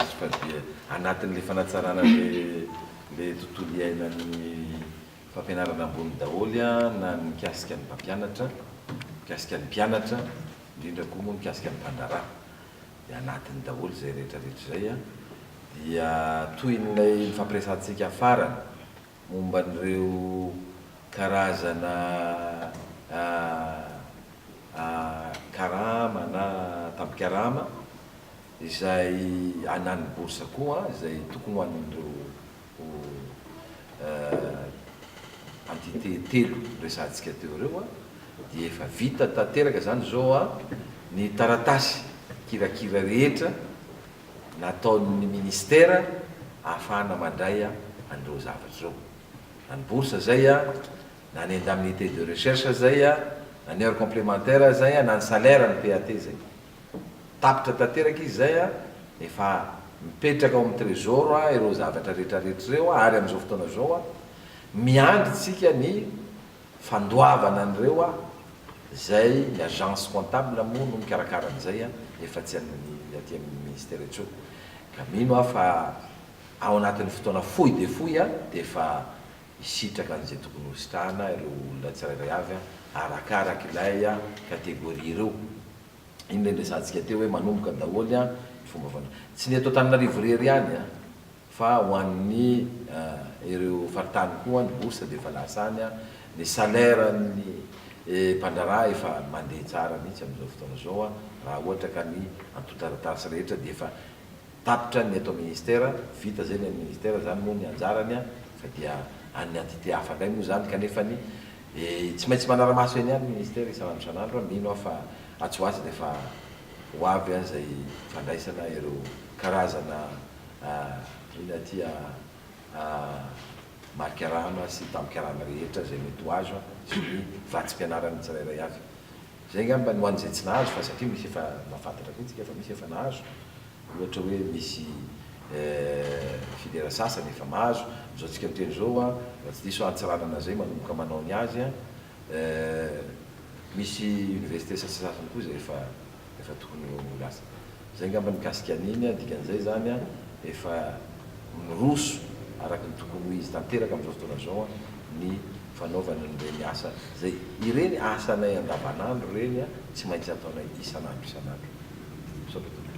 azy fa dia anatin'ilay fanatsarana ilay tontolo iainan'ny fampianarana ambony daholo na ny mikasika ny mpampianatra, mikasika ny mpianatra, indrindra koa moa mikasika ny mpandraharaha dia anatiny daholo izay rehetra rehetra izay dia toy ilay nifampiresahantsika farany. momba an'ireo karazana karama na tapikarama izay na ny bourse koa izay tokony ho an'ireo entité telo resahantsika teo ireo dia efa vita tanteraka izany izao ny taratasy kirakira rehetra nataon'ny Ministera ahafahana mandray an'ireo zavatra ireo. Na ny bourse izay, na ny indemnité de recherche izay, na ny heures complémentaires izay, na ny salaire an'ny PAT izay. Tapitra tanteraka izy izay, efa mipetraka ao amin'ny Trésor ireo zavatra rehetrarehetra ireo ary amin'izao fotoana izao, miandry isika ny Fandoavana an'ireo a! Zay ny agence comptable moa no mikarakara an'izay a! Nefa tsy an'ny aty amin'ny ministera intsony. Ka mino aho fa ao anatin'ny fotoana fohy dia fohy a! Dia efa hisitraka an'izay tokony hositrahana ireo olona tsirairay avy a! Arakaraka ilay a! Catégorie ireo. Iny ilay niresahantsika teo hoe manomboka daholo a! Ny fomba fandraisana. Tsy ny eto Antananarivo irery ihany a! Fa ho an'ny ireo faritany koa ny bourse dia efa lasa any, ny salaire an'ny mpandraharaha efa mandeha tsara mihitsy amin'izao fotoana izao raha ohatra ka ny antontaratasy rehetra dia efa tapitra ny eto ministera, vita izay ny an'ny ministera, izany moa ny anjarany fa dia an'ny entité hafa indray moa izany kanefa ny tsy maintsy manara-maso eny ihany ny ministera isan'andro isan'andro, mino aho fa atsy ho atsy dia efa ho avy izay fandraisana ireo karazana. eny aty Marikarama sy Tampkarama rehetra izay mety ho azo sy ny vatsim-pianarany tsirairay avy. Izay angamba ny ho an'izay tsy nahazo fa satria misy efa mahafantatra koa isika fa misy efa nahazo, ohatra hoe misy filière sasany efa mahazo, izao tsika miteny izao raha tsy diso Antsiranana izay manomboka manao ny azy. Eh, misy université sasasasany koa izay efa efa tokony ho lasa. Izay angamba nikasika an'iny an, dikan'izay izany an, efa miroso araka ny tokony ho izy tanteraka amin'izao fotoana izao an, ny fanaovana an'ireny asa izay, ireny asanay andavanandro ireny an, tsy maintsy ataonay isan'andro isan'andro. Misaotra tompoko.